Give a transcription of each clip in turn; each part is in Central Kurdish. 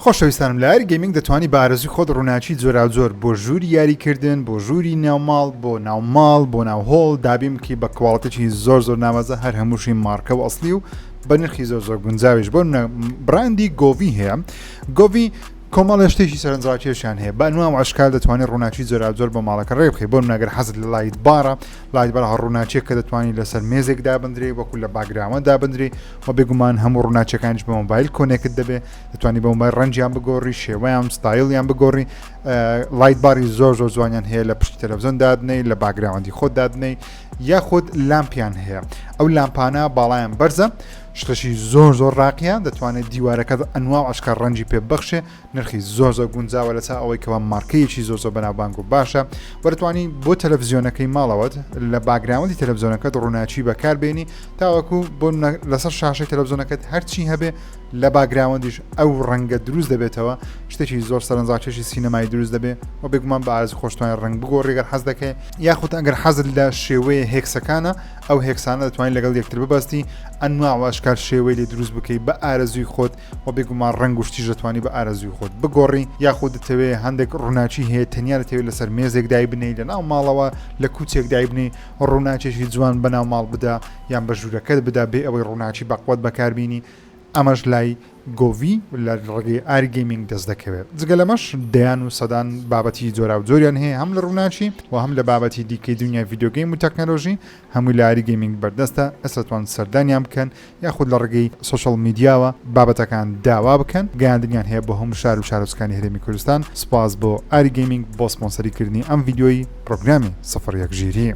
خۆشەویستانم لە ئاری گەیمینگ دەتوانی بە ئارەزوی خۆت ڕوناکی جۆراوجۆر بۆ ژووری یاری کردن بۆ ژووری ناو ماڵ بۆ ناو ماڵ بۆ ناو هۆڵ دابین بکەی بە کواڵتیی زۆر زۆر ناوازە هەر هەمووشی مارکە و ئەسلی و بە نرخی زۆر زۆر گونجاویش بۆ براندی گۆڤی هەیە گۆڤی کۆمەڵە شتێکی سەرنجڕاکێشیان هەیە بە نوام عشکال دەتوانانی ڕووناچی جۆراجۆر بە ماڵەکە ڕێ بخی بۆ ناگەر حەزت لە لایت بارە لایت بەرها ڕووناچێک کە دەتوانانی لەسەر مێزێک دابدرێ وەکو لە باگراوە دابدرێ وە بێگومان هەموو ڕووناچەکانیش بە مۆبایل کۆنێکت دەبێ دەتوانانی بە مۆبایل ڕەنجیان بگۆڕی شێوەیان ستایلیان بگۆڕی لایت باری زۆر زۆر جوانیان هەیە لە پشتی تەلەڤزیۆن دادنەی لە باگراوەندی خۆ دادنەی یاخود لامپیان هەیە ئەو لامپانە باڵیان بەرزە شتەشی زۆر زۆر ڕاقیە دەتوانێت دیوارەکەت ئەنوا عشکە ڕەنجی پێ بەخشێ نرخی زۆر زۆر گونجاوە لەچا ئەوەی کەوا مارکەیەکی زۆر زۆر بەناوبانگ و باشە وەرتوانی بۆ تەلەڤزیۆنەکەی ماڵەوەت لە باگراوندی تەلەڤزیۆنەکەت ڕووناچی بەکار بێنی تاوەکو بۆ لەسەر شاشەی تەلەڤزیۆنەکەت هەرچی هەبێ لە باگراوندیش ئەو ڕەنگە دروست دەبێتەوە شتێکی زۆر سەرنجڕاکێشی سینەمای دروست دەبێ و بێگومان بە ئارزی خۆشتوانانی ڕنگ بگۆ ڕێگەر حەز دەکەی یاخود ئەگەر حەزت لە شێوەیە هێکسەکانە ئەو هێکسانە دەتوانین لەگەڵ یەکتر ببەستی ئەنواع واشکال شێوەی لێ دروست بکەی بە ئارەزوی خۆت وە بێگومان ڕەنگ و شتیش دەتوانی بە ئارەزووی خۆت بگۆڕی یاخود دەتەوێ هەندێک ڕووناکی هەیە تەنیا دەتەوێت لەسەر مێزێک دایبنەی لە ناو ماڵەوە لە کوچێک دایبنی ڕووناکێکی جوان بە ناو ماڵ بدا یان بە ژوورەکەت بدا بێ ئەوەی ڕووناکی بەقوەت بەکاربیینی ئەمەش لای گۆڤی لە ڕێگەی ئارگەیمینگ دەست دەکەوێت جگە لەمەش دەیان و سەدان بابەتی جۆرا و جۆریان هەیە هەم لە ڕووناچی و هەم لە بابەتی دیکەی دنیای یددیوگەیم و تەکنەلۆژی هەمووی لە ئاری گەیمینگ بەردەستە کەس ئەتوان سەردانیان بکەن یاخود لە ڕێگەی سۆشیاڵ میدیاوە بابەتەکان داوا بکەن گەیاندنیان هەیە بۆ هەموو شار و شارۆچکانی هەرێمی کوردستان سوپاس بۆ ئاری گەیمینگ بۆ سپۆنسەری کردنی ئەم ڤیدیۆی پرۆگرامی سفر یەک ژیری.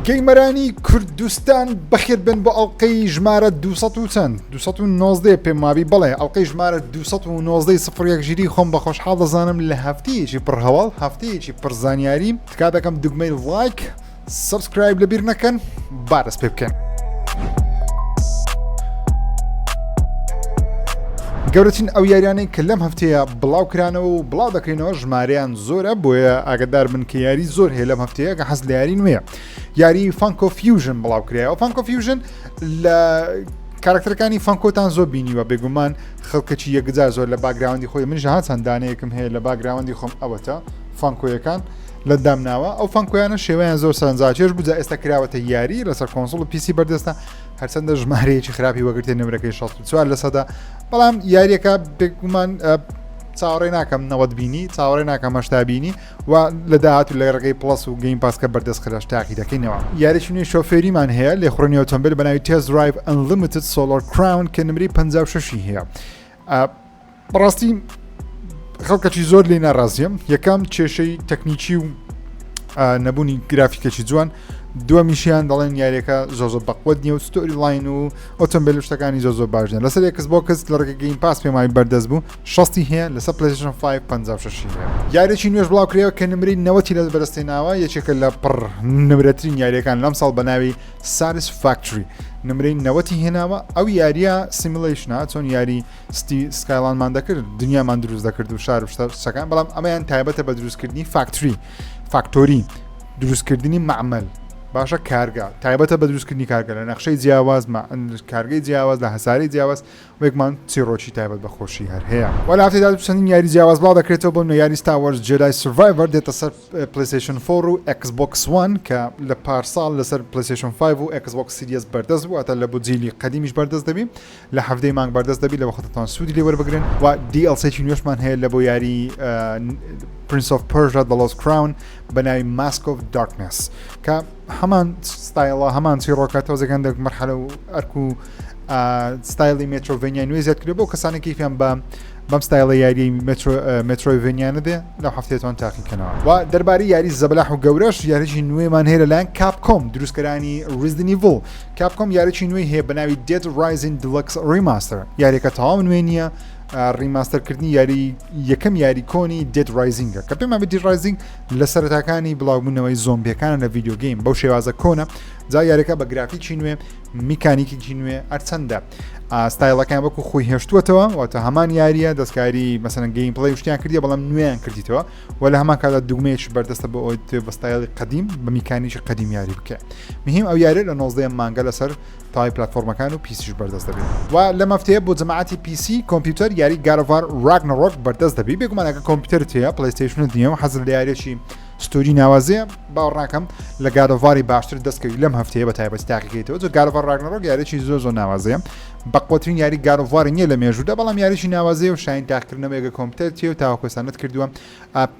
گەیمەرانی کوردستان بەخێربێن بۆ ئەڵقەی ژمارە دوو سەد و چەند. دوو سەد و نۆزدە پێم وابی بەڵێ ئەڵلقەی ژمارە دوو سەد و نۆزدە ی سفر یەک ژیری خۆم بە خۆشحاڵ دەزانم لە هەفتەیەکی پڕ هەواڵ هەفتەیەکی پڕ زانیاری تکا دەکەم دوگمەی ڵایک سەبسکرایب لەبیر نەکەن با دەست پێ بکەن. گەورەترین ئەو یاریانەی کە لەم هەفتەیە بڵاو کرانەوە و بڵاو دەکرێنەوە ژمارەیان زۆرە بۆیە ئاگدار من کە یاری زۆر هەیە لەم هەفتەیە کە حەز لە یاری نوێە یاری فانکۆ فیوژن بڵاو کرایەوە فانکۆ فیوژن لە کارکتەرەکانی فانکۆتان زۆر بینیوە بێگومان خەڵکەکی یەکجار زۆر لە باگراوەندی خۆی من جهان چەندانەیەکم هەیە لە باگراوەندی خۆم ئەوەتە فانکۆیەکان لە دامناوە ئەو فانکۆیانە شێوەیان زۆر سەرنجاچێش بوو جا ئێستا کراوەتە یاری لەسەر کۆنسڵ و پیسی بەردەستە هەرچەندە ژمارەیەکی خراپی وەگرتێ نمرەکەی 64 لە سەدا بەڵام یاریەکە بێگومان چاوەڕێ ناکەم نەوەت بینی چاوەڕێ ناکەم هەشتا بینی و لە داهاتوو لە ڕێگەی پڵەس و گەیم پاس کە بەردەست خراش تاقی دەکەینەوە یاریی نوێی شۆفێریمان هەیە لێ خوڕنی ئۆتۆمبیل بە ناوی تێز درایڤ ئەنلیمیتد سۆلۆر کراون کە نمری 56 هەیە بەڕاستی خەڵکەکی زۆر لێ ناڕازیم یەکەم کێشەی تەکنیکی و نەبوونی گرافیکەکی جوان دووە میشیان دەڵێن یاریەکە زۆزۆ بەقوت نیە و ستۆری لاین و ئۆتۆمبیل شتەکانی زۆزۆ باشە لەسەر یەکس بۆ کەس لە ڕگەگەین پاس پێمای بەردەست بوو شەستی هەیە لەسەر پلەیستەیشن فایڤ پەنجا و شەشی هەیە یاریێکی نوێش بڵاوکرێەوە کە نمرەی نەوەتی لە بەرستی ناوە یەکێکە لە پڕ نمرەترین یاریەکان لەم ساڵ بە ناوی ساریس فاکتری نمرەی نەوەتی هێناوە ئەو یاریە سیملیشنا چۆن یاری ستی سکایلانمان دەکرد دنیامان دروست دەکرد و شار شتەکان بەڵام ئەمەیان تایبەتە بە دروستکردنی فاکتری فاکتۆری دروستکردنی معمل باشە کارگە تایبەتە بە دروستکردنی کارگە لە نەخشەی جیاواز کارگەی جیاواز لە هەساری جیاواز بێگمان چیڕۆکی تایبەت بە خۆشی هەر هەیە. و لە هەفتەی داهاتوو چەندین یاری جیاواز بڵاو دەکرێتەوە بۆ نوێیاری ستار وارس جێدای سڤایڤەر دێتە سەر پلەیستەیشن فۆر و ئێکس بۆکس وان کە لە پارساڵ لەسەر پلەیستەیشن فایڤ و ئێکس بۆکس سیریەس بەردەست بوو واتە لە بۆ جیلی قەدیمیش بەردەست دەبی لە حەڤدەی مانگ بەردەست دەبی لەوەخت دەتوان سوودی لێ وەربگرن و دی ئێڵ سێکی نوێشمان هەیە لە بۆ یاری پرنس ئۆف پەرژا دە لۆست کراون بە ناوی ماسک ئۆف دارکنێس کە هەمان ستایڵە هەمان چیڕۆکە تۆزەکان دەک مەرحەلە و ئەرک و ستایلی مێترۆڤنیای نوێ زیاد کرد بۆ کەسانی کەیفیان بە بەم ستایلە یاری مترۆڤنیانە دێ لەو هەفتێتوان تاقیکەنەوە و دەرباری یاری زەبلاح و گەورەش یاریی نوێمان هەیە لەلایەن کاپکۆم دروستکەرانی ریزدنی بۆ کاپکۆم یاریی نوێی هەیە بە ناوی دێت رایزین دلکس ریماستەر یاریەکە تەواو نوێ نییە ریماستەرکردنی یاری یەکەم یاری کۆنی دێت رایزینگە کە پێمان بدی رایزینگ لە سەرتاکانی بڵاوبوونەوەی زۆمبیەکانە لە ڤیددیو گەیم بەو شێوازە کۆنە جا یاریەکە بە گرافیکی نوێ میکانیکیی نوێ ئەرچەندە ئاستایلەکان وەکو خۆی هێشتووەتەوە واتە هەمان یاریە دەستکاری مەسەن گەیم پڵی شتیان کردی بەڵام نوێیان کردیتەوە و لە هەمان کادا دوگمەیەش بەردەستە بۆ ئەوی بەستایلی قدیم بە میکانیکی قدیم یاری بکە مهم ئەو یاری لە 19 مانگە لەسەر تای پلاتفۆرمەکان و پیسیش بەردەست دەبێ و لەم هەفتەیە بۆ جەماعەتی پیسی کۆمپیوتەر یاری گارڤار راگنەڕۆک بەردەست دەبی بێگومان ئەگە کۆمپیوتەرت هەیە پلەیستەیشنت نییە و حەزت لە یاریێکی ستوری ناوازەیە باوەڕناکەم لە گارڤاری باشتر دەستکەوی لەم هەفتەیە بە تایبەتی تاقیکەیتەوە جە گارڤار راگنەڕۆک یاریێکی زۆ زۆ ناوازەیە بەقوترین یاری گارڤاری نییە لە مێژوودا بەڵام یاریی ناوازەیە و شاین تاقکردنەوە ئەگە کۆمپیوتەر تێ و تاوەکۆسانت کردووە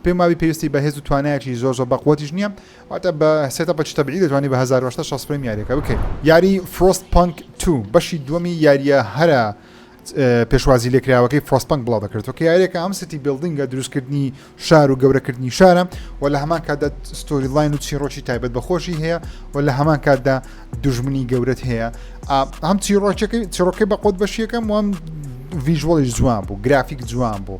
پێماوی پێویستی بەهێز و توانایەکی زۆ زۆ بەقوتیش نییە واتە بە سێتەپەکی تەبیعی دەتوانی بە هەزار و هەشت سەد و شەست فرەیم یاریەکە بکەی. یاری Frostpunk two بەشی دووەمی یارییە هەرە پێشوازی لێکراوەکەی Frostpunk بڵاودەکرێتەوە کە یاریەکە ئەم ستی بیڵدینگە دروستکردنی شار و گەورەکردنی شارە و لە هەمان کاتدا ستۆری لاین و چیڕۆکی تایبەت بەخۆشی هەیە و لە هەمان کاتدا دژمنی گەورەت هەیە هەم چیڕۆکەکەی چڕۆکەی بەقۆت بەشیەکەم وام ڤژوەڵیش جوان بوو گرافیک جوان بوو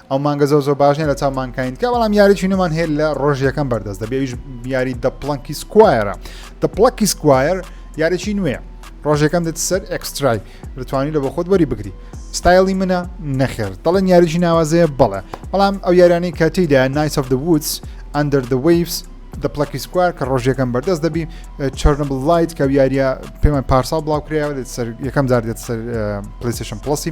ئەو مانگە زۆ زۆ باش نیە لە چاو مانکاین کە بەڵام یاری چینەمان هەیە لە ڕۆژ یەکەم بەردەست دەبێویش یاری دە پڵنکی سکوایرە دە پڵکی سکوایر یاریی نوێ ڕۆژەکەم دێت سەر ئەکسترای دەتوانانی لە بە خۆت وەری بگری ستایلی منە نەخێر دەڵێن یاریی ناوازەیە بەڵێ بەڵام ئەو یارانی کە تیدا نایس of the woods under the waves دە پڵکی سکوار کە ڕۆژەکەم بەردەست دەبی چرنە بڵایت کە یاریە پێمان پارسا بڵاوکرایەوە دێت سەر یەکەم جار دێت سەر پلیسشن پڵسی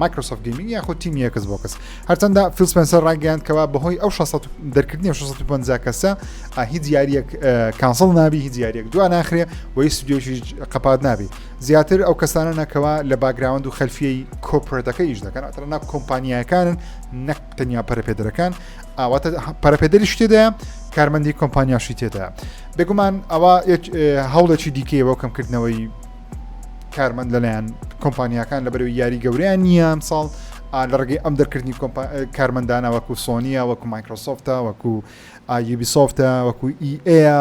مایکرۆسۆفت گەیمینگ یاخود تیمی ئێکس بۆکس هەرچەندە فیل سپنسەر ڕایگەیاند کەوا بەهۆی ئەو 600 دەرکردنی 650 کەسە ئا، هیچ یاریەک ئە، کانسڵ نابی هیچ یاریەک دو ناخرێ و هیچ ستودیۆشی قەپات نابی زیاتر ئەو کەسانە نەکەوە لە باگراوند و خەلفیەی کۆپرەتەکە ئیش دەکەن ئەتر ناک کۆمپانیایەکانن نەک تەنیا پەرپێدرەکان ئاواتە پەرپێدری شتێدایە کارمەندی کۆمپانیاشی تێدا بێگومان ئەوە یەک، ئە، هەوڵێکی دیکەیەوە کەمکردنەوەی کارمەند لەلایەن کۆمپانیاکان لە بەرەوەی یاری گەوریان نییە ئەم ساڵ لە ڕگەی ئەم دەرکردنی کارمەندانە وەکو سۆنیە وەکو مایکرۆسۆفتە وەکو ئایبی سۆفتە وەکو ئیئەیە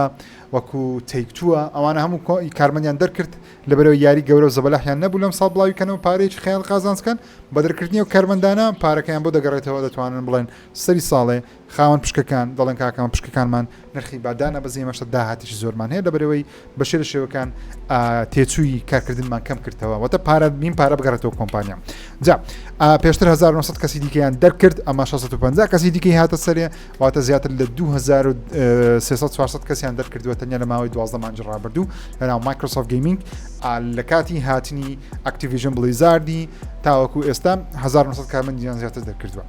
وەکو تێکتووە ئەوانە هەموو کارمەندیان دەرکرد لە بەرەوە یاری گەورە و زەبەلاحیان نەبوو لەم ساڵ بڵاوی کەنەوە پارێکی خیال قازانسکەن بە دەرکردنی و کارمەندانە پارەکەیان بۆ دەگەڕێتەوە دەتوانن بڵێن سەری ساڵێ خاوەن پشکەکان دەڵێن کاکەمە پشکەکانمان نرخی بادانە بەزی مەشە داهاتیش زۆرمان هەیە لەبەرەوەی بە شێر شێوەکان تێچووی کارکردنمان کەم کردەوە وەتە پارە بین پارە بگەڕێتەوە کۆمپانیا جا پێشتر 1900 کەسی دیکەیان دەرکرد ئەمە 650 کەسی دیکەی هاتە سەرێ واتە زیاتر لە 2300 کەسیان دەرکردووە تەنیا لە ماوەی دوازدە مانج ڕابردوو لەناو مایکرۆسۆف گەیمینگ لە کاتی هاتنی ئەکتیڤژن بڵیزاردی تاوەکو ئێستا 1900 کارمەندیان زیاتر دەرکردووە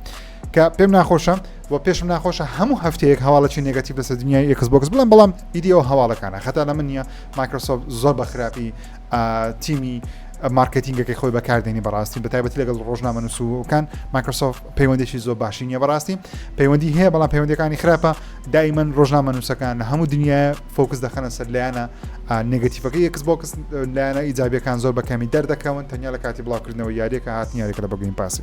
کە پێم ناخۆشە و پێشم ناخۆشە هەموو هەفتەیەک هەواڵەی نگەتیب لەسەر دنیای ئێکس بۆکس بڵم بەڵام ئیدی ئەو هەواڵەکانە خەتا لە من نیە مایکرۆسۆف زۆر بە خراپی تیمی مارکتینگەکەی خۆی بەکاردێنی بەڕاستی بە تایبەتی لەگەڵ ڕۆژنامە نووسوکان مایکرۆسۆف پەیوەندێکی زۆر باشی نیە بەڕاستی پەیوەندی هەیە بەڵام پەیوەندەکانی خراپە دایمەن ڕۆژنامە نووسەکان لە هەموو دنیا فۆکس دەخەنە سەر لایەنە نگەتیفەکە یەکس بۆکس لایەنە ئیجابیەکان زۆر بەکەمی دەردەکەون تەنیا لە کاتی بڵاوکردنەوە یاریەکە هاتنیارێک لە بەگەین پاسی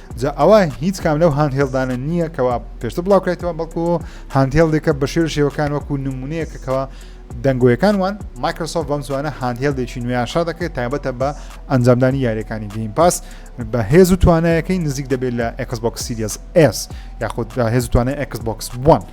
جا ئەوە هیچ کام لەو هاندهێڵدانە نییە کەوا پێشتر بڵاوکرێتەوە بەڵکو هاندهێڵدێکە بە شێر شێوەکان وەکو نمونەیەکەکەەوە دەنگۆیەکان وان مایکرۆسۆف بەم زوانە هاندهێڵدێکی نوێیان شار دەکرێت تایبەتە بە ئەنجامدانی یاریەکانی گەیم پاس بە هێز و توانایەکەی نزیک دەبێت لە ئەکسبک سیریس ئس یاخود هێز توانای ئەکسبکس بوون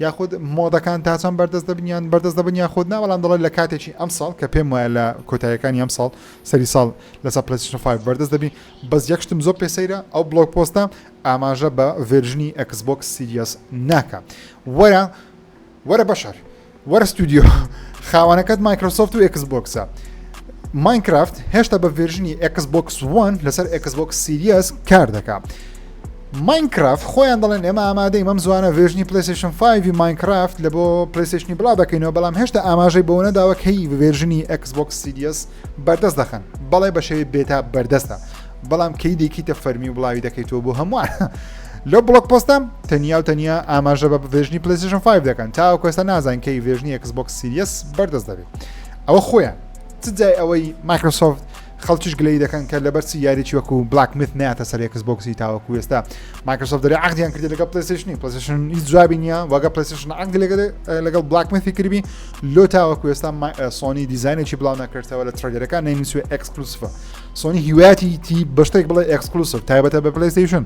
یاخود مۆدەکان تا چەند بەردەست دەبن یان بەردەست دەبن یاخود نا بەڵام دەڵێت لە کاتێکی ئەم ساڵ کە پێم وایە لە کۆتایەکانی ئەم ساڵ سەری ساڵ لەسەر پلسیۆن 5 بەردەست دەبین بەس یەکشتم زۆر پێسەیرە ئەو بلۆک پۆستە ئاماژە بە ڤێرژنی ئەکسبۆکس سیریەس ناکە وەرە وەرە بەشەر وەرە ستودیۆ خاوانەکەت مایکرۆسۆفت و ئەکس بۆکسە ماینکرافت هێشتا بە ڤێرژنی ئەکس بۆکس وان لەسەر ئەکس بۆکس سیریەس کار دەکات. ماینکرافت خۆیان دەڵێن ئێمە ئامادەی مەم زوانە ڤێژنی پلیسشن 5 ماینکرافت لە بۆ پلیسشنی بڵا دەکەینەوە بەڵام هێشتا ئاماژەی بۆ نەداوە کەی ڤێژنی ئەکسبک سیدیس بەردەست دەخەن بەڵێ بە شێوی بێتا بەردەستە بەڵام کەی دێکیتە فەرمی و بڵاوی دەکەیتەوە بۆ هەمووان لەو بڵک پۆستە تەنیا و تەنیا ئاماژە بە ڤێژنی پلیسشن 5 دەکەن تاو کۆستا نازان کەی ڤێژنی ئەکسبک سیدیس بەردەست دەبێت ئەوە خۆیان چ جای ئەوەی مایکرۆسۆفت خەڵکیش گلەیی دەکەن کە لەبەر چی یاریی وەکو بلاک میت ناتە سەر یەکس بۆکسی تاوەکو ئێستا مایکرۆسۆفت دەری عقدیان کردی لەگە پلسیشنی پلسیشن هیچ جوابی نییە وەگە پلسیشن عقد لەگەڵ بلاک میتی کردبی لۆ تاوەکو ئێستا سۆنی دیزانێکی بڵاو نەکردەوە لە ترەگەرەکان نینسوێ ئەکسکلوسفە سۆنی هیواتی تی بەشتێک بڵێ ئەکسکلوسف تایبەتە بە پلیستیشن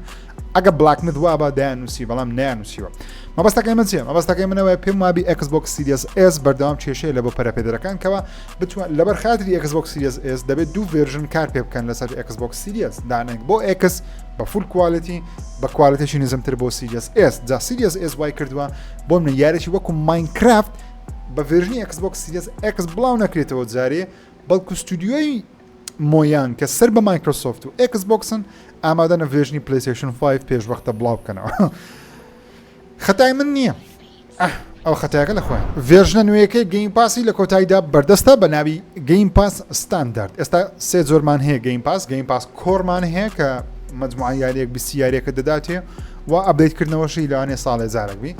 ئەگە بلاک میت وا بە دایان نووسی بەڵام نیان نووسیوە مەبەستەکەی من چیە مەبەستەکەی منەوەی پێم وابی ئەکس بۆکس سیریس ئێس بەردەوام کێشەیە لە بۆ پەرەپێدەرەکان کەەوە بتوان لەبەر خاتری ئەکس بۆک سیریز ئێس دەبێت دوو ڤێرژن کار پێ بکەن لەسەر ئەکس بۆک سیریز دانێک بۆ ئەکس بە فول کوالەتی بە کوالەتێکی نزمتر بۆ سیریز ئێس جا سیریز ئێس وای کردووە بۆ منە یارێکی وەکو ماینکرافت بە ڤێرژنی ئەکس بۆک سیریز ئەکس بڵاو نەکرێتەوە جارێ بەڵکو ستودیۆی مۆیان کە سەر بە مایکرۆسۆفت و ئەکس بۆکسن ئامادەە ڤێژنی پلیسیشن 5 پێشوەختە بڵاو بکەنەوە خەتای من نییە ئەه ئەو خەتایەکە لە خۆیان. ڤێرژنە نوێیەکەی گەیم پاسی لە کۆتاییدا بەردەستە بە ناوی گەیم پاس ستاندارد ئێستا سێ جۆرمان هەیە گەیم پاس گەیم پاس کۆرمان هەیە کە مجموعە یاریەک بیسی یاریەکە دەداتێ و ئەبدەیت کردنەوەشی لەوانێ ساڵێ جارێک بی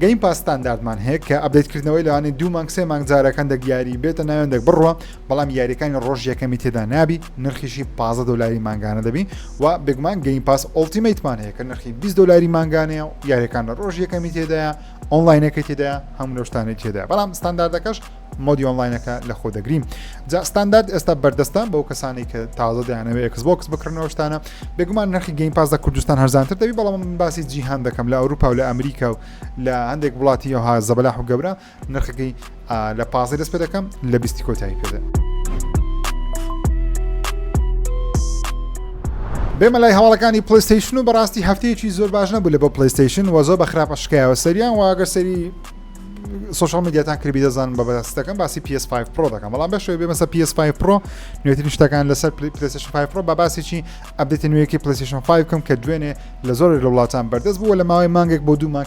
گەیم پاستانداردمان هەیە کە ئەبدەیت کردنەوەی لەوانێ دوو مانگ سێ مانگ جارەکان دەگیاری بێتە ناوێندێک بڕوە بەڵام یاریەکانی ڕۆژ یەکەمی تێدا نابی نرخیشی 15 دلاری مانگانە دەبی و بێگومان گەین پاس ئۆلتیمیتمان هەیە کە نرخی 20 دلاری مانگانەیە و یاریەکان لە ڕۆژ یەکەمی تێدایە ئۆنلاینەکە تێدا هەموو لەشتانی تێدا بەڵام ستانداردەکەش مۆدی ئۆنلاینەکە لە خۆ دەگرین جا ستاندارد ئێستا بەردەستە بەو کەسانی کە تازە دەیانەوە ئەکسبکس بکردنەوە شتانە بێگومان نرخی گەین پاس لە کوردستان هەرزانتر دەبی بەڵام من باسی جیهان دەکەم لە ئەوروپا و لە ئەمریکا و لە هەندێک وڵاتی یهها زەبلاح و گەورە نرخەکەی لە پازدە دەست پێ دەکەم لە بیستی کۆتایی پێدا بێمە لای هەواڵەکانی پلیستیشن و بەڕاستی هەفتەیەکی زۆر باش نەبوو لە بۆ پلیستیشن و زۆر بە خراپە شکایەوە سەریان واگەر سەری سوشال میدیاتان کردبی دەزانم بە بەستەکەم باسی PS5 پرۆ دەکەم بەڵام بەشێ بێ مەسە PS5 پرۆ نوێترین شتەکان لەسەر پلیسشن 5 پرۆ بە باسێکی ئەبدێتی نوێیەکی پلیسشن 5 بکەم کە دوێنێ لە زۆر لە وڵاتان بەردەست بووە لە ماوەی مانگێک بۆ دوو مانگ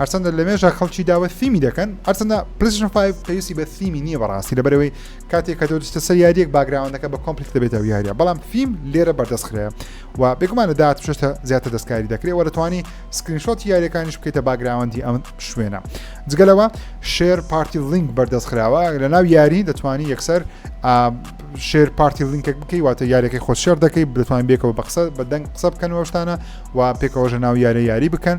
هەرچەندە لەمێژە خەڵکی داوە سیمی دەکەن هەرچەندە پلیشن پای پێویستی بە سیمی نییە بەڕاستی لەبەرەوەی کاتێک کە دۆستە سەر یاریەک باگراوندەکە بە کۆمپلیک دەبێتەوە یاریە بەڵام فیم لێرە بەردەستخرێ و بێگومانە داات شتە زیاتر دەستکاری دەکرێت وە دەتوانانی سکرینشۆت یاریەکانیش بکەیتە باگراوندی ئەم شوێنە جگەلەوە شێر پارتی لینک بەردەست خراوە لە ناو یاری دەتوانی یەکسەر شێر پارتی لینکێک بکەی واتە یاریەکەی خۆ شێر دەکەی بتوان بێکەوە بە قسە بە دەنگ قسە بکەن وەشتانە و پێکەوەژە ناو یارە یاری بکەن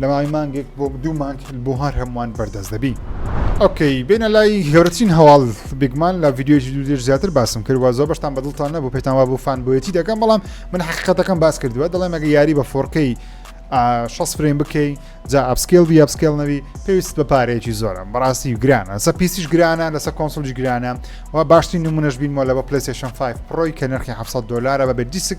لە ماوەی مانگێک بۆ دوو مانگ بۆ هەر هەمووان بەردەست دەبی. ئۆکەی بێنە لای گەورەترین هەواڵ بیگمان لە ڤیددیۆی دوو دێر زیاتر باسم کرد وە زۆر بەشتان بەدڵتان نەبوو پێتان وا بۆ فان بۆیەتی دەکەم بەڵام من حقیقەتەکەم باس کردووە دەڵێم ئەگە یاری بە فۆڕکەی 6 فرێن بکەی جا ئەپسکێل بی ئەپسکێل نەوی پێویست بە پارەیەکی زۆرە بەڕاستی و گرانە سە پیسیش گرانە لەسەر کۆنسلژ گرانە و باشترین نمونەش بین مۆلە بە پلیسیشن 5 پرۆی کە نرخی 700 دلارە بە بێ دیسک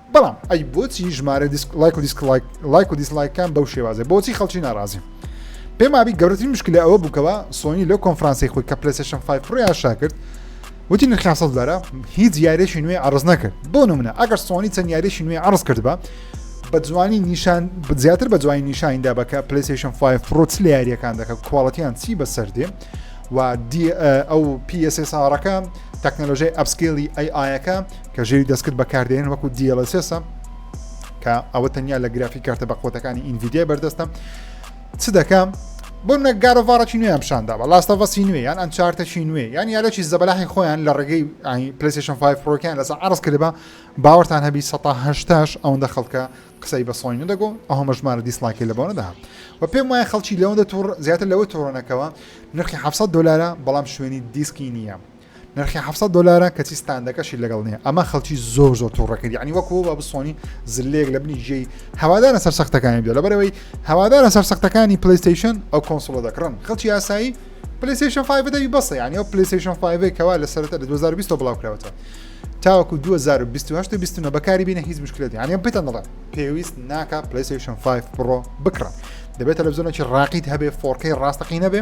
بەڵام ئەی بۆچی ژمارە دیسک لایک و دیسک لایک لایک و دیسلایکان بەو شێوازە بۆچی خەڵکی ناڕازی پێم وابی گەورەترین مشکلە ئەوە بووکەوە سۆنی لەو کۆنفرانسی خۆی کە پلەسێشن 5 فڕیان شاکرد وتی نرخیان سەد دارە هیچ یاریشی نوێ عرض نەکرد بۆ نمونە ئەگەر سۆنی چەند یاریشی نوێ عرض کرد بە بە جوانی نیشان زیاتر بە جوانی نیشانیندا بەکە پلیسیشن 5 فرۆچ لە یاریەکان دەکە کوواڵەتیان چی بەسەر دێ و ئەو PSSRەکە تەکنەلۆژی ئەپسکیلی ئەی ئاەکە کە ژێری دەستکرد بەکاردێنن وەکو DLSS کە ئەوە تەنیا لە گرافی کارتە بە قوتەکانی ئینڤیدیای بەردەستە چ دەکەم بۆ منە گارۆڤارەی نوێیان پیششاندا بە لاستەڤەسی نوێ یان ئەم چارتەکی نوێ یان یالەکی زەبلاحی خۆیان لە ڕێگەی پلیسیشن 5 فڕۆکیان لەسە عرض کردبا باوەتان هەبی 1970 ئەوەندە خەڵکە قسەی بە سۆی نەدەگۆ ئەوە مەژمارە دیسلاکی لە بۆنەدا و پێم وایە خەڵکی لەوەندە تۆڕ زیاتر لەوە تۆڕەکەەوە نرخی 700 دلارە بەڵام شوێنی دیسکی نییە نرخی حەفت سەد دۆلارە کەچی ستاندەکەشی لەگەڵ نیە ئەمە خەڵکی زۆر زۆر تووڕە کرد ینی وەکو بە بسۆنی زلێک لە بنی جێی هەوادارە سەر سەختەکانی بێ لەبەرەوەی هەوادارە سەر سەختەکانی پلیستیشن ئەو کۆنسڵە دەکڕن خەڵکی یاسایی پلیستیشن 5 دەوی بەسە ینی ئەو پلیستیشن 5 کەوا لە سەرەتا لە 2020 بڵاوکراوەتەوە تاوەکو 2020 بەکاری بینە هیچ مشکلێت یانە پێتان دەڵێ پێویست ناکە پلیستیشن 5 پڕۆ بکڕن دەبێت تەلەڤزیۆنێکی ڕاقیت هەبێ فۆرکەی ڕاستەقی نەبێ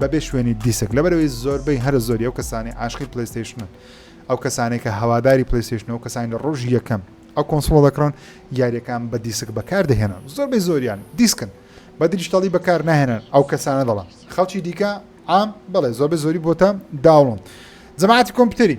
بەبێ شوێنی دیسک لەبەرەوەی زۆربەی هەرە زۆری ئەو کەسانی عاشقی پلیستیشنن ئەو کەسانێک کە هەواداری پلیستیشن و کەسانی لە ڕۆژی یەکەم ئەو کۆنسڵۆ دەکڕن یاریەکان بە دیسک بەکاردەهێنن زۆربەی زۆریان دیسکن بە دریشتەڵی بەکار ناهێنن ئەو کەسانە دەڵن خەڵکی دیکە ئام بڵێ زۆربەی زۆری بۆتە داوڵن جەماعاتی کۆمپیوتەری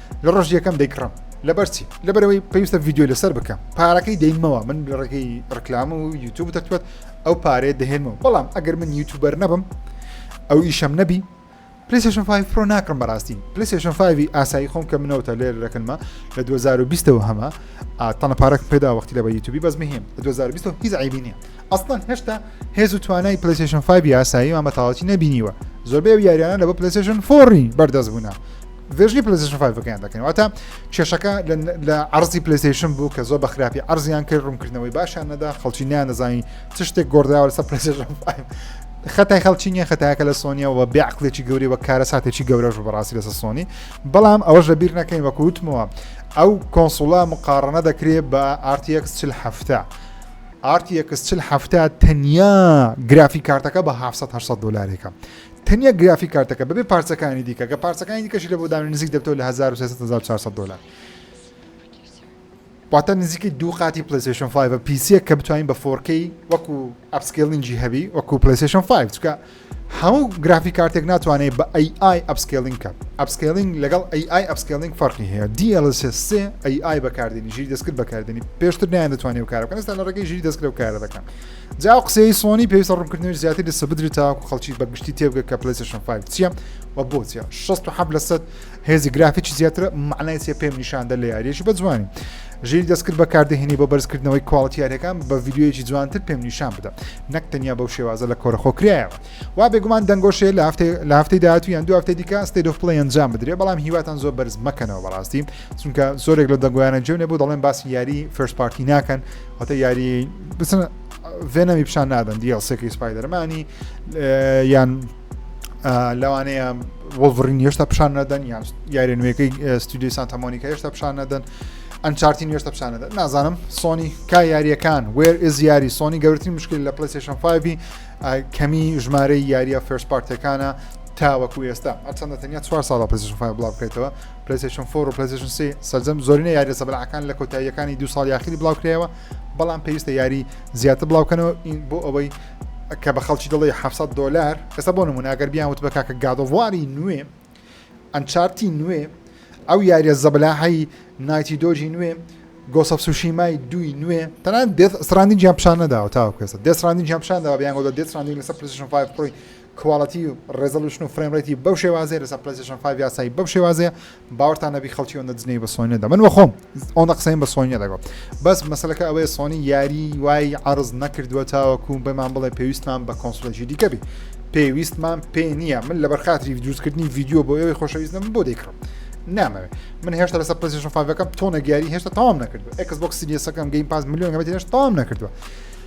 لە ڕۆژ یەکەم دەیکڕم لەبەرچی لەبەرەوەی پێویستە ڤیددیو لەسەر بکەم پارەکەی دەینمەوە من ڕێگەی ڕکلام و یوتوب دەتوێت ئەو پارێ دەهێنمەوە بەڵام ئەگەر من یوتوبەر نەبم ئەو ئیشەم نەبی پلیسشن 5 پرۆ ناکڕم بەڕاستی پلیسشن 5 ئاسایی خۆم کە منەوەتە لێر دەکەنمە لە 2020ەوە هەمە تەنە پارک پێدا وەختی لە بە یوتوبی بەس مهم لە 2020 هیچ عیبی نیە ئەسڵەن هێشتا هێز و توانای پلیسشن 5 یاسایی مامەتەواتی نەبینیوە زۆربەی یاریانە لە بە پلیسشن فۆڕی بەردەست بوونە ڤێژنی پلیزیشن فایڤەکەیان دەکەین واتە کێشەکە لە ئەرزی پلیسیشن بوو کە زۆر بە خراپی ئەرزیان کرد ڕوونکردنەوەی باشیان نەدا خەڵکی نیان دەزانین چ شتێک گۆردراوە لەسەر پلیسیشن خەتای خەڵکی نیە خەتاکە لە سۆنیەوە بێ عقلێکی گەوری وە کارە ساتێکی گەورەش و بەڕاستی لەسە سۆنی بەڵام ئەوەش لە بیر نەکەین وەکو وتمەوە ئەو کۆنسوڵە مقارنە دەکرێت بە RTX چل هەفتە RTX چل هەفتە تەنیا گرافی کارتەکە بە 1970 دلارێکە تەنیا گرافی کارتەکە بەبێ پارچەکانی دیکە کە پارچەکانی دیکەشی لە بۆ دانە نزیک دەبتەوە لە 1400 دلار واتە نزیکی دوو قاتی پلیسشن 5 پیسیە کە بتوانین بە فۆرکەی وەکو ئەپسکلینجی هەبی وەکو پلیسشن 5 چکە هەموو گرافی کارتێک ناتوانێت بە AI ئەپسکلینگ کە ئەپسکلینگ لەگەڵ AI ئەپسکلینگ فەرقی هەیە DLSC AI بەکاردێنی ژیری دەستکرد بەکاردێنی پێشتر نیان دەتوانێت کارەکەن ستا لە ڕێگەی ژیری دەستکرە و کارە دەکەن جا ئەو قسەی سۆنی پێویستە ڕوونکردنەوەی زیاتر لەسە بدرێت تاکو خەڵکی بەگشتی تێبگە کە پلیسشن 5 چییە و بۆچە 16 لەسەد هێزی گرافیکی زیاترە معنای چێ پێم نیشاندە لە یاریەکی بە جوانی ژیر دەستکرد بەکاردەهێنی بۆ بەرزکردنەوەی کواڵتیارەکان بە یددیوەیەکی جوانتر پێم نیشان بدە نەک تەنیا بەو شێوازە لە کۆرەخۆکرایە وا بێگومان دەنگۆشێ لە هەفتەی لە هەفتەی داهاتوو یان دو هەفتەی دیکە ستەی دۆفپڵی ئەنجام بدرێ بەڵام هیواتان زۆر بەرز مەکەنەوە بەڕاستی چونکە زۆرێک لە دەنگویانە جێ نەبوو دەڵێن باسی یاری فرست پارتی ناکەن واتە یاری بچن ڤێنەمی پیشان نادەن دیڵسێکی سپایدەرمانی یان لەوانەیە وەڵڤڕین هێشتا پیشان نەدەن یان یاری نوێەکەی ستودی سانتەمۆنیکە هێشتا پیشان نەدەن ئەنچارتین هێشتا پیشان نەدەن نازانم سۆنی کا یاریەکان وێر ئز یاری سۆنی گەورترین مشکل لە پلیسیشن 5 کەمی ژمارەی یاریە فێرس پارتەکانە تاوەکو ئێستا ئەچەندە تەنیا چوار ساڵ پزیشفای بڵاو بکەیتەوە پلەیستەیشن فۆر و پلەیستەیشن سی سەرجەم زۆرینە یاریە سەبەلاحەکان لە کۆتاییەکانی دو ساڵ یاخیری بڵاوکرایەوە بەڵام پێویستە یاری زیاتر بڵاوکەنەوە بۆ ئەوەی کە بە خەڵکی دڵی 700 دلار ئێستا بۆ نمونە ئەگەر بیان وت بە کاکە گادۆواری نوێ ئەنچارتی نوێ ئەو یاریە زەبلاحی نایتی دۆژی نوێ گۆسەف سوشیمای دوی نوێ تەنان دێت سرانی جیان پیشان نەداوە تاوە کوێسە دێسرانی جیان پیشان داوە بیان گۆ دێسرانی لەسەر پرسیشن 5 پڕی کواڵەتی ڕێزۆڵیوشن و فرەیم ڕەیتی بەو شێوازەیە لەسەر پلەیستەیشن فایڤ یاسایی بەو شێوازەیە باوەڕتان نەبی خەڵکی ئەوەندە جنێوی بە سۆنی نەدا من وەخۆم ئەوەندە قسەیم بە سۆنی نەدەگۆ بەس مەسەلەکە ئەوەیە سۆنی یاری وای عەرز نەکردووە تاوەکو بەمان بڵێ پێویستمان بە کۆنسڵێکی دیکە بی پێویستمان پێ نییە من لەبەر خاتری دروستکردنی ڤیددیو بۆ ئەوەی خۆشەویستم بۆ دەیکڕم نامەوێت من هێشتا لەسەر پلسیشن فاڤەکەم تۆنە گیاری هێشتا تاوام نەکردو ئەکس بۆک سیریەسەکەم گەیم پاس میلیۆن گەمەتی هێشتا تاوام نەکردووە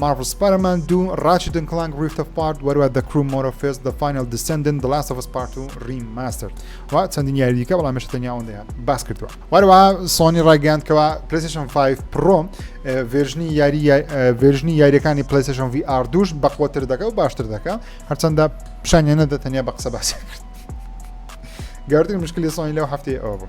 مارڤڵ سپایدەرمان دوو ڕاچێت ئەند کڵانک ڕیفت ئۆف پارت وەروە دە کروو مۆرۆفێس دە فاینەڵ دیسێندنت دە لاست ئۆف ئەس پارت و ڕیماستەرد و چەندین یاری دیکە بەڵام هێشتا تەنیا ئەوەندەی هات باس کردووە وەروە سۆنی ڕایگەیاند کەوا پلەیستێشن 5 پڕۆ ڤێرژنی یاری ڤێرژنی یاریەکانی پلەیستێشن ڤی ئار دووش بە قوەتر دەکە و باشتر دەکە هەرچەندە پیشانیانە دە تەنیا بە قسە باسی کرد گەوردن مشکلی سۆنی لەو هەفتەیە ئەوە بوو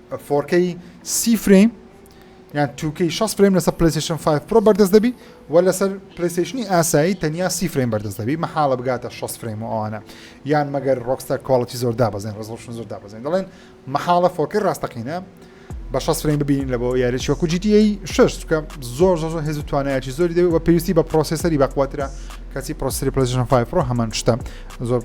فۆرکەی سی فرەیم یان توکەی 6 فرەیم لەسەر پلیسشن 5 پرۆ بەردەست دەبی و لەسەر پلیسشنی ئاسایی تەنیا سی فرەیم بەردەست دەبی مەحاڵە بگاتە 6 فرەیم و ئەوانە یان مەگەر ڕۆکستەر کواڵەتی زۆر دابزین ڕزڵشن زۆر دابزین دەڵێن مەحاڵە فۆرکی ڕاستەقینە بە 6 فرەیم ببینین لە بۆ یاریی وەکو جیتی 6 چکە زۆر زۆر زۆر هێز و توانایەتی زۆری دەوێت و پێویستی بە پرۆسیسەری بەقوترە کەچی پرۆسری پلیسشن 5 پرۆ هەمان شتە زۆر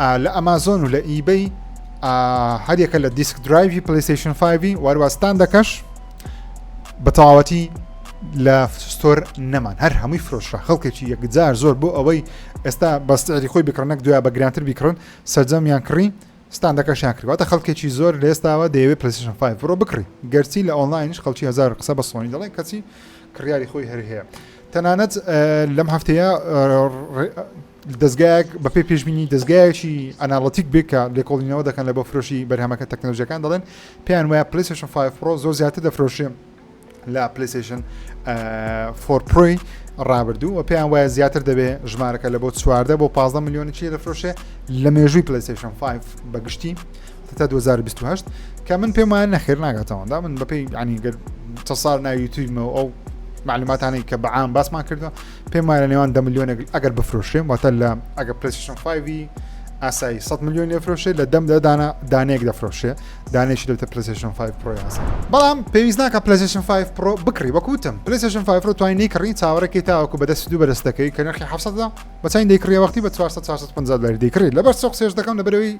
ئا لە ئەمازۆن و لە ئیبەی هەریەکە لە دیسک درایوی پلیسیشن 5 واروا ستاندەکەش بە تەواوەتی لە ستۆر نەمان هەر هەمووی فرۆشرا خەڵکێکی یەکجار زۆر بۆ ئەوەی ئێستا بەستری خۆی بکڕنەک دوای بە گرانتر بیکڕن سەرجەمیان کڕی ستاندەکەشیان کردواتە خەڵکێکی زۆر لێستاوە دەیەوێت پلیسیشن 5 بڕۆ بکڕی گەرچی لە ئۆنلاینش خەڵکی هزار قسە بە سۆنی دەڵێن کەچی کڕیاری خۆی هەر هەیە تەنانەت لەم هەفتەیە دەزگایەک بە پێی پێشبینی دەزگایەکی ئەناڵتیک بێ کە لێکۆڵینەوە دەکەن لە بۆ فرۆشی بەرهەمەکە تەکنەلۆژیەکان دەڵێن پێیان وایە پلیسشن 5 پرۆ زۆر زیاتر دەفرۆشێ لە پلیسشن فۆرپۆی ڕابردوو و پێیان وایە زیاتر دەبێ ژمارەکە لە بۆ چواردە بۆ 15 میلیۆنی چی دەفرۆشێ لە مێژووی پلیسشن 5 بەگشتی تا 2028 کە من پێمان نەخێر ناگاتەوەدا من بەپی ینی گەر چە ساڵ ناویتویمەوە ئەو معلوماتانەی کە بەعام باسمان کردو پێم وایە لە نێوان دە ملیۆنێک ئەگەر بفرۆشێ واتە لە ئەگە پرسیشن فیڤی ئاسایی 100 میلیۆن لێفرۆشێ لە دەم دەدانە دانەیەک دەفرۆشێ دانێکی لەوتە پرسیشن 5 پرۆیاسە بەڵام پێویست ناکە پلسیشن 5 پرۆ بکڕی وەکوتم پلسیشن 5 پرۆ توانین نیکڕین چاوەڕێکی تاوەکو بەدەست دوو بەرز دەکەی کە نرخی حفسەدا بەچین دەیکڕی وەختی بە 450 دلاری دەیکڕی لەبەر سۆق سێش دەکەم لەبەرەوەی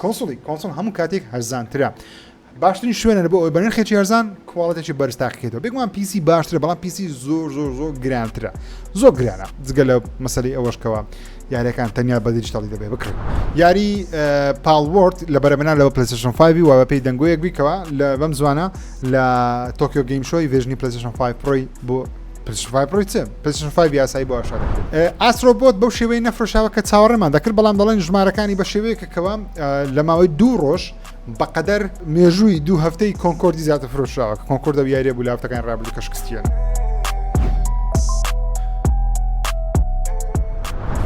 کونسڵی کونسڵ هەموو کاتێک هەرزانترە. باشترین شوێنە لەبۆ ئەوەی بەنرخێکی هەرزان کواڵێتێکی بەرز تاقیکەیتەوە بێگومان پیسی باشترە بەڵام پیسی زۆر زۆر زۆر گرانترە زۆر گرانە جگە لە مەسەلی ئەوەشکەوە یاریەکان تەنیا بە دیجیتەڵی دەبێ بکڕی یاری پاڵوەرد لە بەرەمەنا لەوە پلسشن 5 و بەپی دەنگۆیەک بیکەوە لە بەم زوانە لە تۆکیۆ گەیم شۆی ڤێژنی پلسشن 5 پرۆی بۆ پلشن فایڤ ڕووی چ پلشن فایڤ یاسایی بۆ ئاشا دەکرێت ئاسرۆبۆت بەو شێوەی نەفرۆشاوە کە چاوەڕێمان دەکرد بەڵام دەڵێن ژمارەکانی بە شێوەیەکە کەوا لە ماوەی دوو ڕۆژ بەقەدەر مێژووی دوو هەفتەی کۆنکۆردی زیاتر فرۆشراوە کە کۆنکۆردە و یاریە بوو لافتەکان ڕابلی کەشکستیان.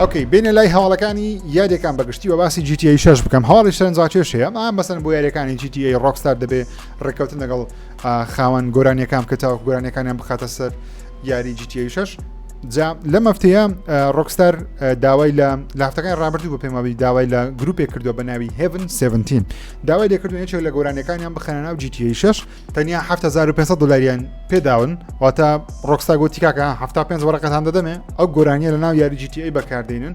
ئۆکەی بینە لای هەواڵەکانی یادەکان بەگشتی بە باسی جیتی شش بکەم هەواڵی شەرنجاکێش هەیە ئەم مەسن بۆ یاریەکانی جیتی ڕۆکستار دەبێ ڕێککەوتن لەگەڵ خاوەن گۆرانیەکان بکە تاوەکو گۆرانیەکانیان بخاتە سەر یاری جیتی شش جا لە مەفتەیە ڕۆکستار داوای لە لافتەکان ڕابردوو بە پێماوی داوای لە گروپێک کردو بە ناوی هێڤن 17 داوای لێکردو یەکێک لە گۆرانیەکانیان بخەنە ناو جیتی شش تەنیا 1500 دلاریان پێداون واتە ڕۆکستا گۆتیکاکە 5 وەرەقەتان دەدەمێ ئەو گۆرانیە لە ناو یاری جیتی بەکاردێنن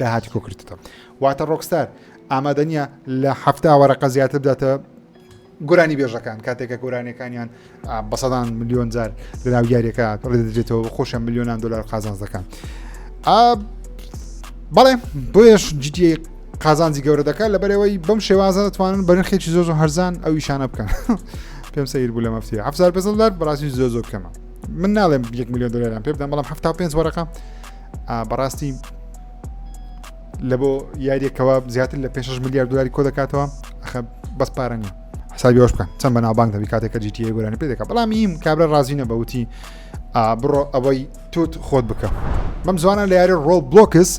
داهاتی کۆکردتەوە واتە ڕۆکستار ئامادە نییە لە هەفتا وەرەقە زیاتر بداتە گۆرانی بێژەکان کاتێکە گۆرانەکانیان بە سەدان میلیۆن جار لەناو یاریەکە ڕێدرێتەوە خۆشە میلیۆنان دلار قازانز دەکەن بەڵێ بۆیش جدی قازانجی گەورە دەکات لە بەرەوەی بەم شێوازە دەتوانن بەرنخێکی زۆر هەرزان ئەو ئیشانە بکەن پێم سەیر بوو لە مەفتی هەفزار پێزلدار بەڕاستی زۆر زۆر بکەمە من ناڵێم یەک میلیۆن دلاریان پێ بدەم بەڵام هەفتا پێنج وەرەقە بەڕاستی لە بۆ یاریەکەوە زیاتر لە 5 میلیارد دلاری کۆ دەکاتەوە بەس پارە نیە حسابیۆش بکەن چەند بە ناوبانگ دەبی کاتێکە جیتی گۆرانی پێ دەکە بەڵام هیم کابرا ڕازینە بەوتی بڕۆ ئەوەی توت خۆت بکە بەم زوانە لە یاری ڕۆڵ بلۆکس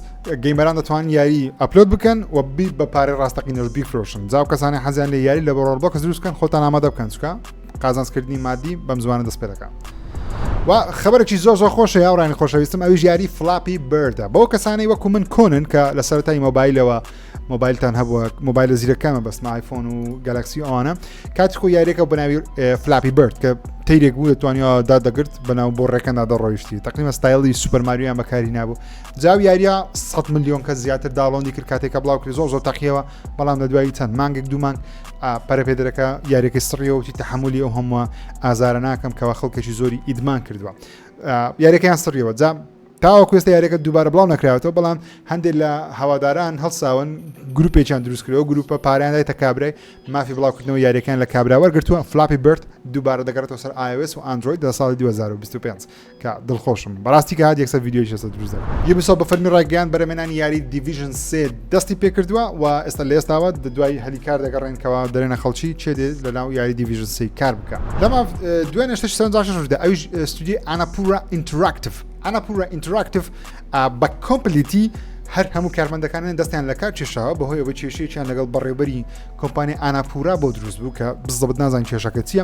گەیمەران دەتوان یاری ئەپلۆد بکەن و بی بە پارە ڕاستەقینەش بیفرۆشن جااو کەسانی حەزیان لە یاری لە بەڕۆڵ بۆکە دروستکەن خۆتان ئامادە بکەن چکە قازانسکردنی مادی بەم زمانە دەست پێ دەکات و خبرێکی زۆر زۆر خۆشە یاڕانی خۆشەویستم ئەوی ژیاری فلاپی بردە بۆ کەسانی وەکو من کۆنن کە لە سەرای مۆبایلەوە مۆبایلتان هەبووە مۆبایل لە زیرەکەمە بەس آیفۆن و گەلکسی ئەوانە کاتکو یاریەکە بەناوی فلاپی برد کە تیرێک بوو دەتوانیا دا دەگرت بەناو بۆ ڕێکەندا دەڕۆیشتی تەقیمە ستایلی سوپەرماریان بەکاری نبوو جاو یاریە 100 میلیۆن کە زیاتر داڵۆندی کرد کاتێکە بڵاو کرد زۆر زۆر تەقیەوە بەڵام لە دوایی چەند مانگێک دوو مانگ پەرەپێدرەکە یاریەکەی سڕیەوەتی تحملی ئەو هەمووە ئازارە ناکەم کەەوە خەڵکەکی زۆری ئیدمان کردووە یاریەکەیان سڕیەوە جام تاوە کوێستە یاریەکە دووبارە بڵاو نکراوەوە بەڵام هەندێک لە هەواداران هەڵساون گروپێکیان دروستکرەوە گروپە پاریانای تە کابرای مافی بڵاوکردنەوە یاریەکان لە کابراوەرگرتووە فلاپی برد دووبارە دەگەڕێتەوە سەر iOS و ئەندروید لە ساڵی 2025 کە دڵخۆشم بەڕاستی کە هات یەکسەر ڤیددیۆی لەسەر دروست دەکەم یوبیسۆ بە فەرمی ڕایگەیان بەرەمێنانی یاری دیڤیژن سێ دەستی پێکردووە و ئێستا لە ئێستاوە دوای هەلی کار دەگەڕێنکەوە دەرێنە خەڵکی چێ دێت لە ناو یاری دیڤیژن سی کار بکە لەما دوای نشتش سەردا ئەوش ستودی ئەناپورا ئینتراکتف ئەناپورا ئینتراکتف بە کۆمپلیتی هەر هەموو کارمەندەکانیان دەستیان لە کار کێشاوە بەهۆیەوە کێشەیەکیان لەگەڵ بەڕێوبەری کۆمپانی ئاناپورا بۆ دروست بوو کە بزەبت نازان کێشەکە چییە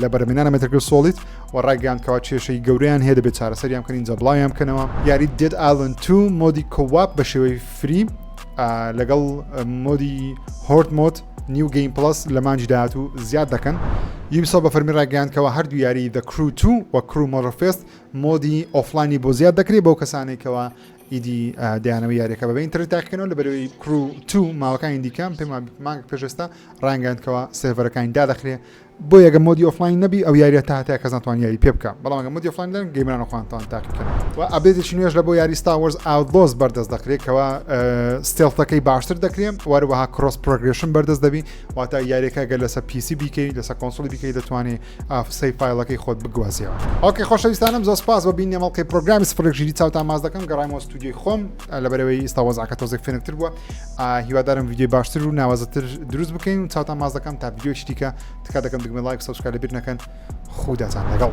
لە بەرمێنانە مەتەکە سۆڵیت و ڕایگەیان کەوا کێشەی گەوریان هەیە دەبێت چارەسەریان بکەین جە بڵاویان بکەنەوە یاری دێت ئالن تو مۆدی کۆواپ بە شێوەی فری لەگەڵ مۆدی هۆرت مۆت نیو گەیم پلس لە مانجی داات و زیاد دەکەن یوبیسۆ بە فەرمی ڕاگەیاندکەوە هەردوو یاری دە کرو تو وە کرو مۆرفێست مۆدی ئۆفلانی بۆ زیاد دەکرێت بەو کەسانێکەوە ئیدی دەیانەوە یاریەکە بەبێ ئینتەرنێت تاقیکەنەوە لە بەرەوەی کرو تو ماڵەکانی دیکەم پێم مانگ پێشستا ڕانگەندکەوە سێڤەرەکانی دادەخرێ بۆ یەگە مۆدی ئۆفلاین نەبی ئەو یاریە تا هەتای کەس ناتوان یاری پێ بکە بەڵامگە مۆدی ئۆفلاین دەن گەیمرانە خوانتان تاقیکەن و ئەبێتێکی نوێش لە بۆ یاری ستاوەرز ئاودۆز بەردەست دەکرێتەوە ستێڵتەکەی باشتر دەکرێن وەروەها کرۆس پرۆگرشن بەردەست دەبی واتا یاریەکە گەر لەسە پیسی بیکەی لەسە کۆنسڵی بیکەی دەتوانێت ئافسەی فایڵەکەی خۆت بگوازیەوە. ئۆکەی خۆشەویستانم زۆر سپاس بۆ بینینی ئەم ئەڵقەی پرۆگرامی سفرێک ژیری چاوتان ماچ دەکەم گەڕایمەوە ستودیۆی خۆم لەبەرەوەی ئێستا وەزعەکە تۆزێک فێنکتر بووە هیوادارم ویدیۆی باشتر و ناوازەتر دروست بکەین و چاوتان ماچ دەکەم تا ویدیۆی شتیکە تکا دەکەم دگمە لایک سەبسکرایب لەبیر نەکەن خوداتان لەگەڵ